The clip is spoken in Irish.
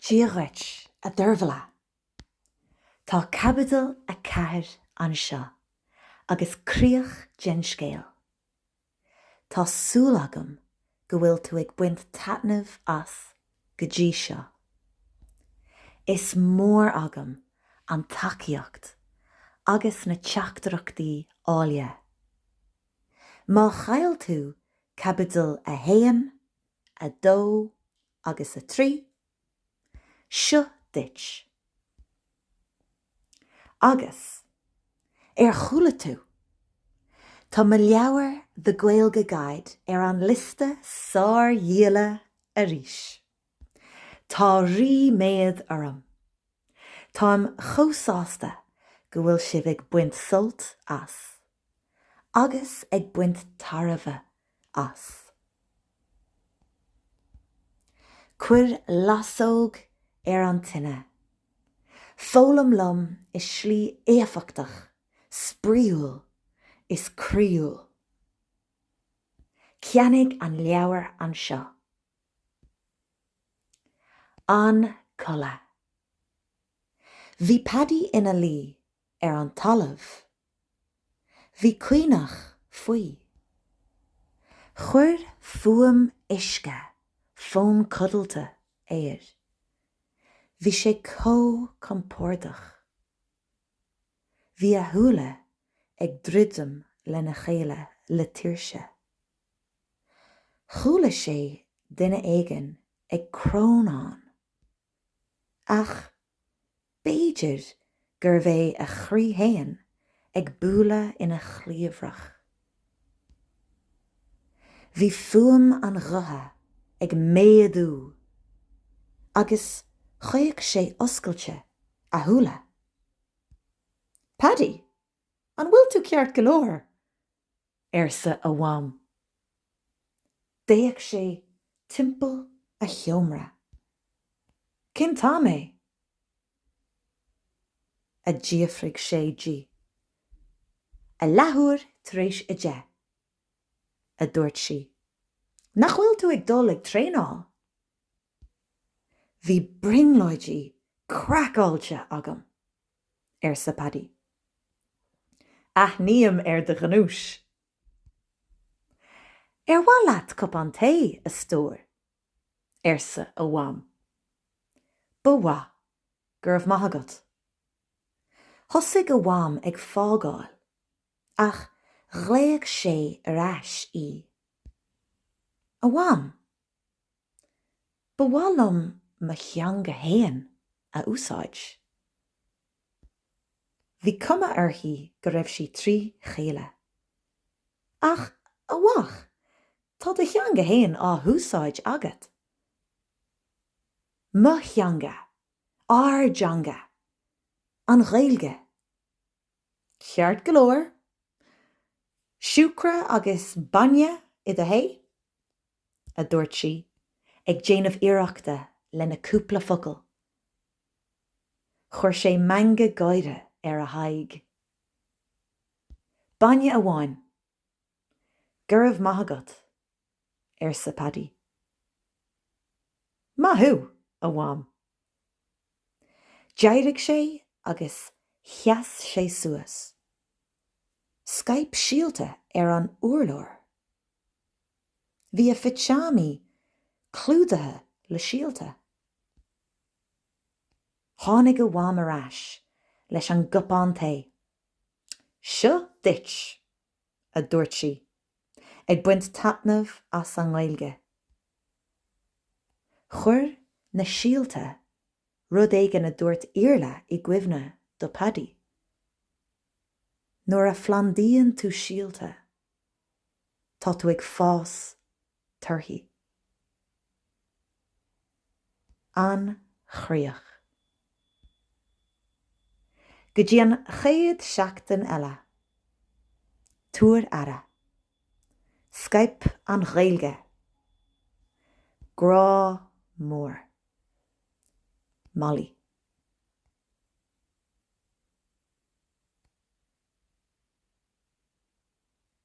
Dia dhuit, a Deirbhile. Tá caibidil a ceathair anseo agus críoch den scéal. Tá súil agam go bhfuil tú ag baint taitneamh as go dtí seo. Is mór agam an tacaíocht agus na teachtaireachtaí áille. Má chaill tú caibidil a haon, a 2 agus a 3, Seo duit. Agus, ar chuala tú? Tá mo leabhar The Gaeilge Guide ar an liosta sárdhíola arís. Tá ríméad orm. Táim chomh sásta go bhfuil sibh ag baint sult as. agus ag baint tairbhe as. Cuir lasóg ar an tine. Foghlaim liom i slí éifeachtach, spraíúil is croíúil. Ceannaigh an leabhar anseo. An codladh. Bhí Paddy ina luí ar an talamh. Bhí caonach faoi. Chuir fuaim uisce fonn codlata air. Bhí sé chomh compordach. Bhí a shúile ag druidim lena chéile le tuirse. Chuala sé duine éigin ag crónán. Ach b'fhéidir gurbh é a chroí féin ag bualadh ina chliabhrach. Bhí fuaim an ghutha ag méadú agus chaoch sé oscailte a shúile. Paddy, an bhfuil tú ceart go leor? arsa a mham. D'fhéach sé timpeall a sheomra. Cén t-am é? a d'fhiafraigh sé di. A leathuair tar éis a deich, a dúirt sí. Nach bhfuil tú ag dul ag traenáil? Bhí brionglóidí craiceáilte agam! arsa Paddy. Aithním ar do ghnúis. Ar mhaith leat cupán tae, a stór? arsa a mham. Ba mhaith, go raibh maith agat. Thosaigh a mham ag fágáil ach ghlaoigh sé ar ais í. A mham! Ba mhaith liom mo theanga fhéin a úsáid. Bhí cuma uirthi go raibh sí trí chéile. Ach, a Mham, tá do theanga fhéin á úsáid agat. Mo theanga. Ár dteanga. An Ghaeilge. Ceart go leor, siúcra agus bainne i do thae? a dúirt sí, ag déanamh iarrachta lena cúpla focal. Chuir sé meangadh gáire ar a haghaidh. Bainne amháin. Go raibh maith agat. arsa Paddy. Maith thú, a Mham. D'éirigh sé agus sheas sé suas. Scaip síolta ar an urlár. Bhí a phitseámaí clúdaithe le síolta. Tháinig a Mham ar ais leis an gcupán tae. Seo duit! a dúirt sí, ag baint taitnimh as an nGaeilge. Chuir na síolta rud éigin a dúirt Iarla i gcuimhne do Paddy. Nuair a phlandaíonn tú síolta, tá tú ag fás torthaí. An chríoch. Go dtí an chéad seachtain eile, tabhair aire. Scaip an Ghaeilge. Grá mór. Molly.